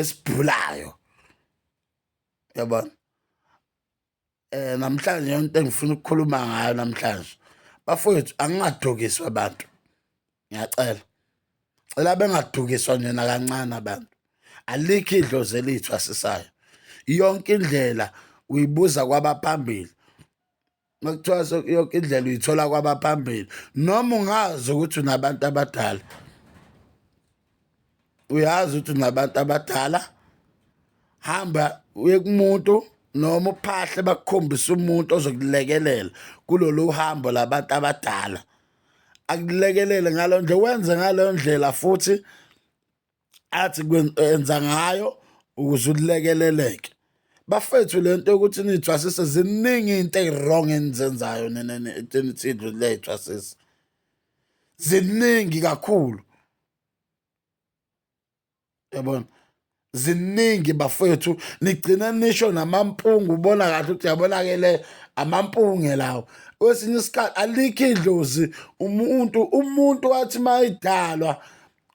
esibhulayo yabona eh namhlanje into engifuna ukukhuluma ngayo namhlanje bafowethu angingadukiswa abantu ngiyacela cela bengadukiswa nje nakancane abantu alikho idlozi elithu asisayo yonke indlela uyibuza kwabaphambili makuthiwa yonke indlela uyithola kwabaphambili noma ungazi ukuthi unabantu abadala uyazi ukuthi unabantu abadala hamba uye kumuntu noma uphahle bakukhombise umuntu ozokulekelela kulolu hambo labantu abadala akulekelele ngalo nje wenze ngaleyo ndlela futhi athi kwenza ngayo ukuze ulekeleleke bafethu le nto yokuthi niyithwasise ziningi into eyi-wrong enizenzayo enithindwe leyithwasisa ziningi kakhulu yabona ziningi bafethu nigcine nisho namampungu ubona kahle ukuthi yabona-ke le amampunge lawo kwesinye isikhathi alikho idlozi umuntu umuntu wathi mayidalwa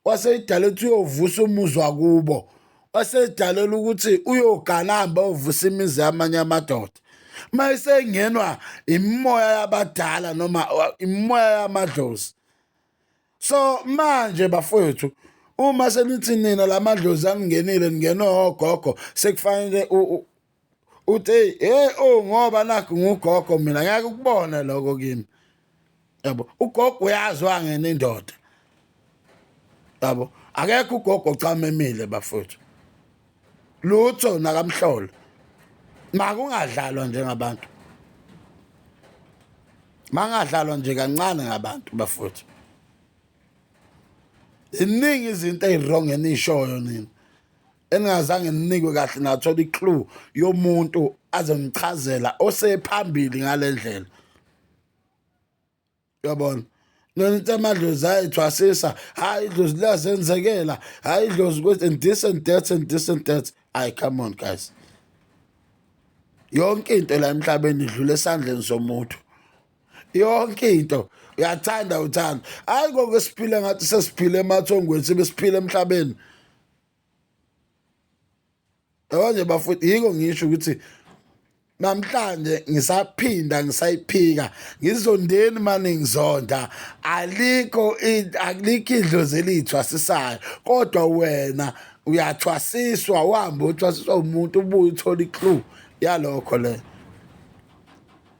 waseyidala ukuthi uyovusa umuzi wakubo waseyidalela ukuthi uyogana hambe ovusa imizi yamanye amadoda uma isengenwa imimoya yabadala noma imimoya yamadlozi so manje bafowethu uma senithi nina la madlozi aningenile ningenwe ogogo sekufanele uthi hey oh ngoba nakho ngugogo mina ngeke ukubone lokho kimi yabo ugogo uyazi wangena indoda yabo akekho ugogo ocamemile bafuthu lutho nakamhlolo makungadlalwa njengabantu mangadlalwa nje kancane ngabantu bafuthu iningi izinto eziwrong enishoyo nina eningazange ninikwe kahle nathola i-clue yomuntu azonichazela osephambili ngale ndlela yabona nonitha amadlozi hayi thwasisa hayi idlozi liyazenzekela hayi idlozi ukuthi and this and that and this and that hayi come on guys yonke into la emhlabeni idlula esandleni somuntu yonke into uyathanda uthanda hayi ngoku esiphile ngathi sesiphile emathongweni sibe siphile emhlabeni Yabanje bafowethu yiko ngisho ukuthi namhlanje ngisaphinda ngisayiphika ngizondeni mani ngizonda alikho alikho idlozi eliyithwasisayo kodwa wena uyathwasiswa uhambe uthwasiswa umuntu ubuye uthole iclue yalokho le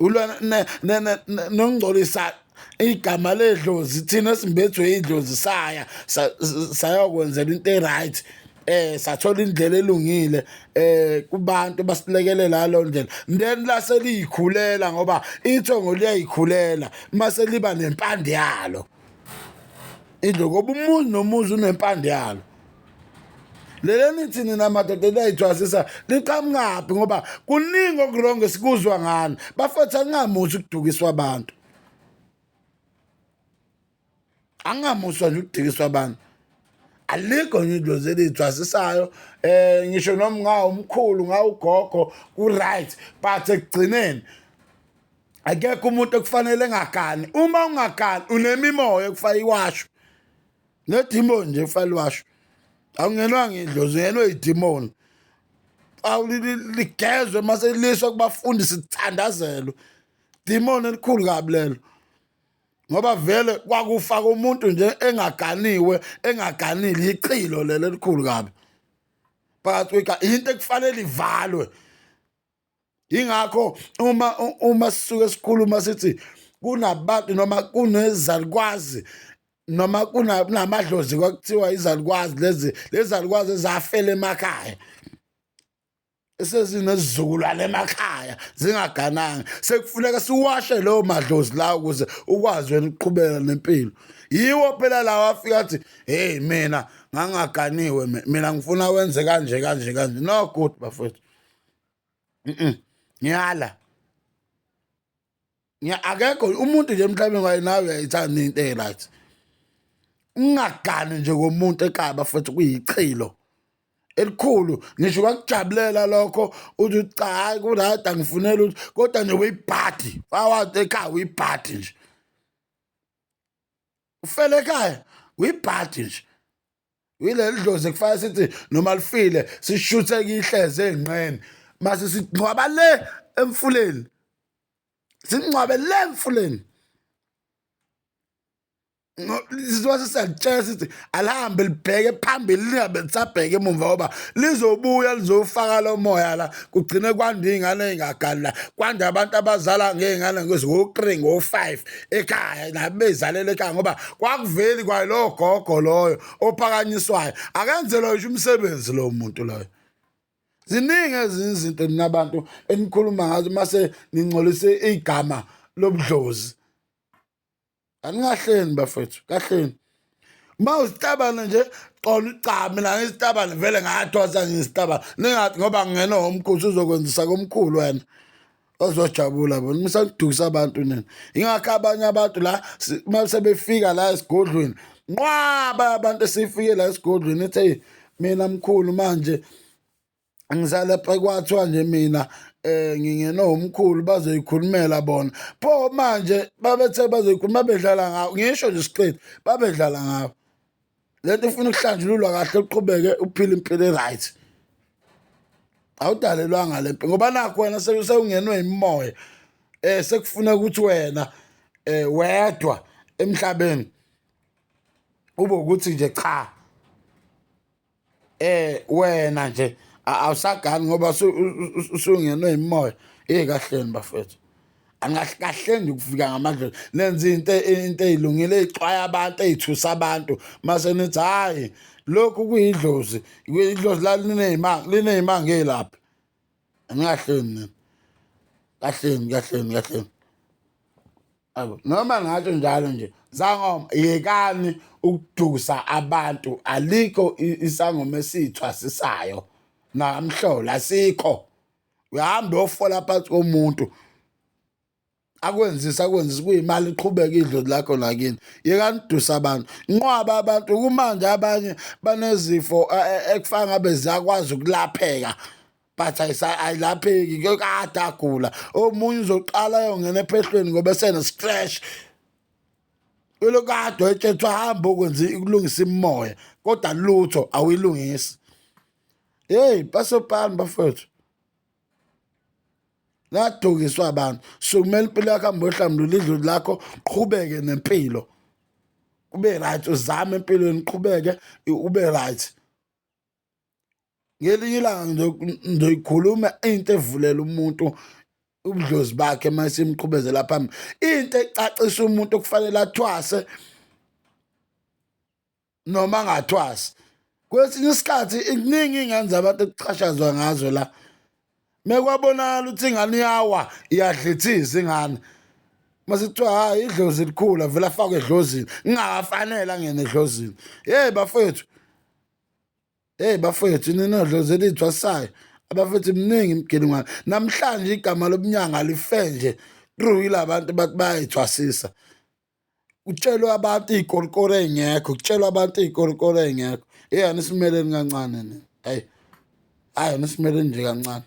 ulwa nongcolisa igama ledlozi thina simbethwe idlozi saya sayokwenzela into e-right eh sathola indlela elungile eh kubantu basilekelela lo ndlela then lase liyikhulela ngoba ithongo liyayikhulela mase liba nempande yalo idlo ngoba umuzi nomuzi unempande yalo lele nithi nina madoda enayithwasisa liqhamukaphi ngoba kuningi okurongo esikuzwa ngani bafethu angingamuthi ukudukiswa abantu angingamuswa nje ukudikiswa abantu alikho nje idlozi eliyithwasisayo um eh, ngisho noma ngawumkhulu ngawugogo ku-right but ekugcineni akekho umuntu okufanele engagani uma ungagani unemimoya ekufanele iwashwe nedimoni nje kufanele washo awungenwa ngidlozi ungenwe idimoni ligezwe uma seliswa kubafundi sithandazelwe dimoni elikhulu kabi lelo ngoba vele kwakufaka umuntu nje engaganiwe engaganile yichilo lelo elikhulu kabi phakathi kweka into ekufanele ivalwe ingakho uma uma sisuke sikhuluma sithi kunabantu noma kunezalukwazi noma kunamadlozi kwakuthiwa izalukwazi lezi lezalukwazi ezafela emakhaya esezinezizukulwane emakhaya zingagananga sekufuneka siwashe leyo madlozi lawo ukuze ukwazi wena ukuqhubeka nempilo yiwo phela lawo afika athi heyi mina ngangaganiwe mina ngifuna wenze kanje kanje kanje no good bafowethu ngiyala akekho umuntu nje emhlabeni kwaye nawe uyayithanda into e-right ungagani nje komuntu ekaba futhi kuyichilo elikhulu ngisho kwakujabulela lokho uthi cha hayi kurayt angifunela ukuthi kodwa nje uyibhadi wawathi ekhaya uyibhadi nje ufele ekhaya uyibhadi nje uyileli dlozi kufanele sithi noma lifile sishuthe kihleze enqeni mase singcwaba le emfuleni singcwabe le emfuleni sizwase siyalitshela sithi alihambe libheke phambili lingabe lisabheke emumva ngoba lizobuya lizofaka lo moya la kugcine kwanda iy'ngane ey'ngagali la kwanda abantu abazala ngey'ngane ngozi ngo-three ngo-five ekhaya nabe beyizalela ekhaya ngoba kwakuveli kwayo lowo gogo loyo ophakanyiswayo akenzelwa yisho umsebenzi lowo muntu loyo ziningi ezinye izinto nina bantu enikhuluma ngazo mase ningcolise igama lobudlozi anikahleni bafethu kahleni uma usitabane nje xola ugcame la ngesitabane vele ngathwasa ngesitabane ningathi ngoba ngingena womkhosi uzokwenzisa komkhulu wena ozojabula bona musakudukisa abantu nina ingakho abanye abantu la uma sebefika la esigodlweni nqwaba abantu esifike la esigodlweni ethi mina mkhulu manje ngisale kwathiwa nje mina eh ngingena umkhulu bazoyikhulumela bona pho manje babethe bazoyikhuluma bedlala ngawo ngisho nje siqedi babedlala ngawo lento ifuna ukuhlanjululwa kahle uqhubeke uphile impilo e-right awudalelwanga le mpilo ngoba nakho wena sewungenwe imimoya eh sekufuna ukuthi wena eh wedwa emhlabeni ube ukuthi nje cha eh wena nje awusagani ngoba usungenwe imoya hey kahleni bafethu angahleni ukufika ngamandla nenza into into ezilungile ezixwaya abantu ezithusa abantu mase nithi hayi lokhu kuyidlozi idlozi la linezimanga linezimanga elapha angahleni kahleni kahleni kahleni Awu noma ngatsho njalo nje zangoma yekani ukudusa abantu alikho i- isangoma esiyithwasisayo namhlola asikho uyahamba uyofola phansi komuntu akwenzisa akwenzisa kuyimali iqhubeka idlozi lakho nakini yekani udusa abantu nqwaba abantu kumanje abanye banezifo eh, eh, ekufana ngabe ziyakwazi ukulapheka but ayilapheki kuyokade agula omunye uzoqala ayongena ephehlweni ngoba esene-scratch ulokade wayetshethwa hambe okwenza ukulungisa imimoya kodwa lutho awuyilungisi heyi basopani bafowethu ladukiswa abantu sukumela impilo yakho hambe ohlambulula idluli lakho qhubeke nempilo ube right uzame empilweni qhubeke ube right ngelinye ilanga ngizoyikhuluma into evulela umuntu ubudlozi bakhe uma simqhubezela phambili into ecacisa umuntu okufanele athwase noma angathwasi kwesinye isikhathi kuningi ingane zabantu ekuxhashazwa ngazo la mekwabonakala ukuthi ingane iyawa iyadlithiza ingane masekuthiwa hhayi idlozi likhulu avele afakwe edlozini ngingakafanele angene edlozini yeyi bafethu Hey bafethu ninodlo zelithwasayo abafethu mningi imgeni ngwana namhlanje igama lobunyanga life nje true ilabantu bathi bayayithwasisa kutshelwa abantu iy'korokoro ey'ngekho kutshelwa abantu iy'korokoro ey'ngekho eyi anisimeleni kancane nina hayi hayi anisimeleni nje kancane